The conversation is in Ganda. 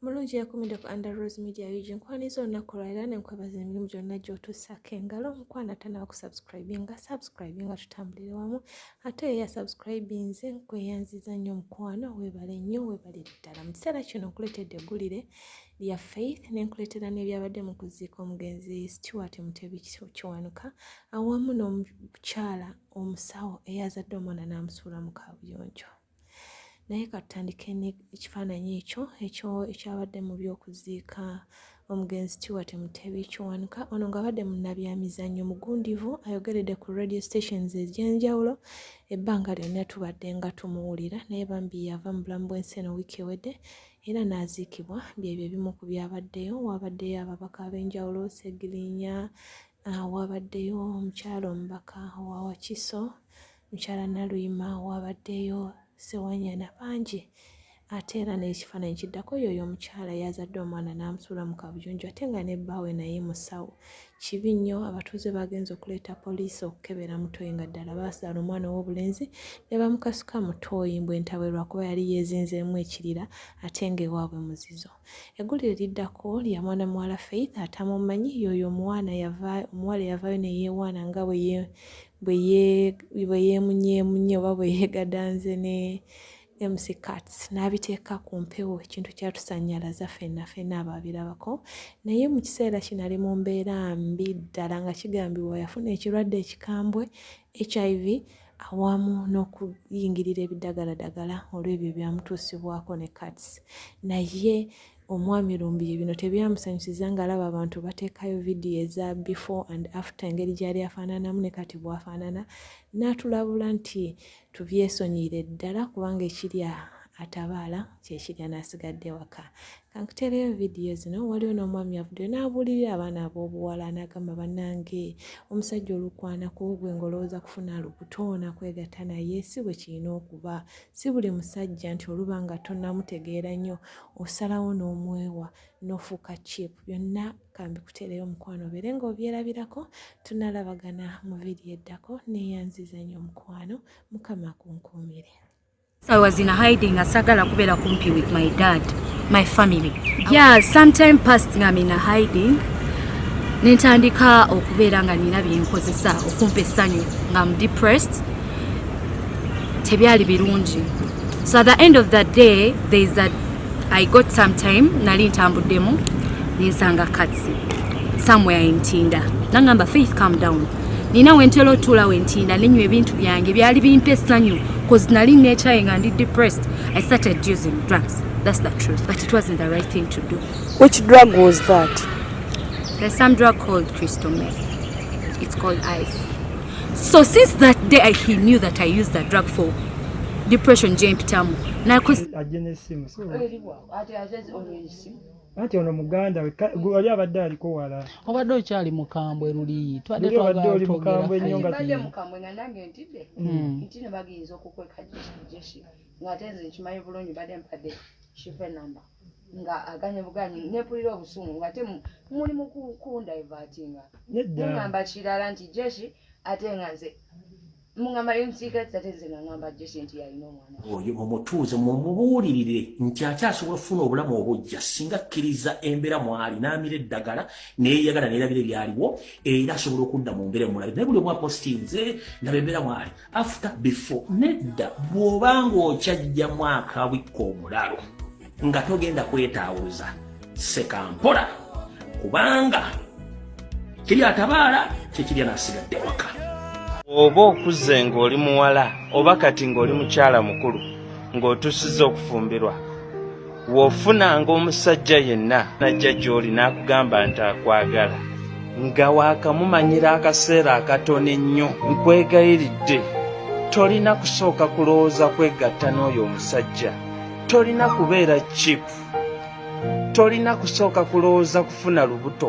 mulungi yakumide ku under rose media ug nkwaniza olunaku lwalira nenkwebaza emirimu gyonna gyotuusako engalo omukwano atanaba kusubscribinga subscribinga tutambulire wamu ate oyo yasubscribinze nkweyanziza nnyo omukwano webale nnyo webalire ddala mu kiseera kino nkuleetedde eggulire ya Faith nenkuleetera n'ebyabadde mu kuziika omugenzi Stuart Mutebi Kiwanuka awamu n'omukyala omusawo eyazadde omwana n'amusuula mu kaabuyonjo naye katutandike ekifaananyi ekyo ekyo ekyabadde mu by'okuziika omugenzi Stuart Mutebi Kiwanuka ono ng'abadde munnabyamizannyo mugundivu ayogeredde ku radio stations ez'enjawulo ebbanga lyonna tubadde nga tumuwulira naye bambi yava mu bulamu bw'ensi eno wiiki ewedde era n'aziikibwa byebyo ebimu ku byabaddeyo waabaddeyo ababaka ab'enjawulo segirinya ah, waabaddeyo omukyalo omubaka owa wakiso mukyala naluyima waabaddeyo sewanyana bangi ate era n'ekifaananyi kiddako yoyo omukyala yazadde omwana n'amusuula mu kabuyunju ate nga ne bbaawe naye musawo kibi nnyo abatuuze baagenze okuleeta poliisi okukebera mutoyi nga ddala baasaala omwana ow'obulenzi ne bamukasuka mutoyi mbu entabwe lwakuba yali yeezinzeemu ekirira ate ng'ewaabwe muzizo eggulire liddako lya mwana muwala faith atamumanyi yooyo omuwana omuwala yavaayo ne yeewaana nga bwe yeemunyeemunye oba bwe yeegadanze ne MC Kats n'abiteeka ku mpewo ekintu kyatusannyalaza fenna fenna abaabirabako naye mu kiseera kino ali mu mbeera mbi ddala nga kigambibwa yafuna ekirwadde ekikambwe HIV awamu n'okuyingirira ebidagaladagala olw'ebyo byamutuusibwako ne Kats naye omwami lumbiye bino tebyamusanyusiza ng'alaba abantu bateekayo vidiyo eza before and after engeri gyali afaananamu ne kati bwafaanana n'atulabula nti tubyesonyire ddala kubanga ekirya atabaala kyekirya nasigadde waka kankutereyo vidiyo zino waliwo n'omwami avuddeyo n'abuulirira abaana ab'obuwala n'agamba bannange omusajja olukwana ku gwe ng'olowooza kufuna lubutoona kwegatta naye si bwe kirina okuba si buli musajja nti oluba nga tonamutegeera nnyo osalawo n'omwewa nofuuka chip byonna kambi kutereyo omukwano obeere nga obyerabirako tunalabagana mu vidiyo eddako neyanziza nyo omukwano mukama kunkuumire I was in hiding asagala kubeera kumpi with my dad my family yeah sometime past nga mina hiding nentandika okubeera nga nina byenkozesa okumpa essanyu nga am depressed tebyali birungi so at the end of the day there is a i got some time nali ntambuddemu nensanga katsi somewhere entinda nangamba faith come down nina wentera otuula wentinda nenywa ebintu byange byali bimpa essanyu bcause nali nekyaye nga ndi depressed i started using drugs that's the truth but it wasn't the right thing to do which drug was that there's some drug called crystal meth it's called ice So since that day I, he knew that I used the drug for depression gye mpitamu ajje n'essimu anti ono muganda wali abadde aliko wala obadde okyali mukambwe luli twaddeobadde oli mukambwe ennyo nga nga aganye buganyi nepulira obusungu nga te muli mukukunda evatinga mugamba kirala nti jeshi ate nga nze mugamba yomsigatisa te nze nangamba jeshi nti yalina omwana oyo mumutuuze mumubuulirire nti akyasobola okufuna obulamu obujja singa akkiriza embeera mwali n'amira eddagala neyeyagala neerabira ebyaliwo era asobola okudda mu mbeera emulabe naye buli omwapositinze ndaba embeera mwali after before nedda bw'oba ng'okyajja mwaka wikka omulalo nga togenda kwetaawuza sekampola kubanga kiri atabaala kyekirya nasigadde waka oba okuze ng'oli muwala oba kati ng'oli mukyala mukulu ng'otusiza okufumbirwa w'ofunanga omusajja yenna najja gy'oli n'akugamba nti akwagala nga waakamumanyira akaseera akatono ennyo nkwegayiridde tolina kusooka kulowooza kwegatta n'oyo omusajja tolina kubeera chipu tolina kusooka kulowooza kufuna lubuto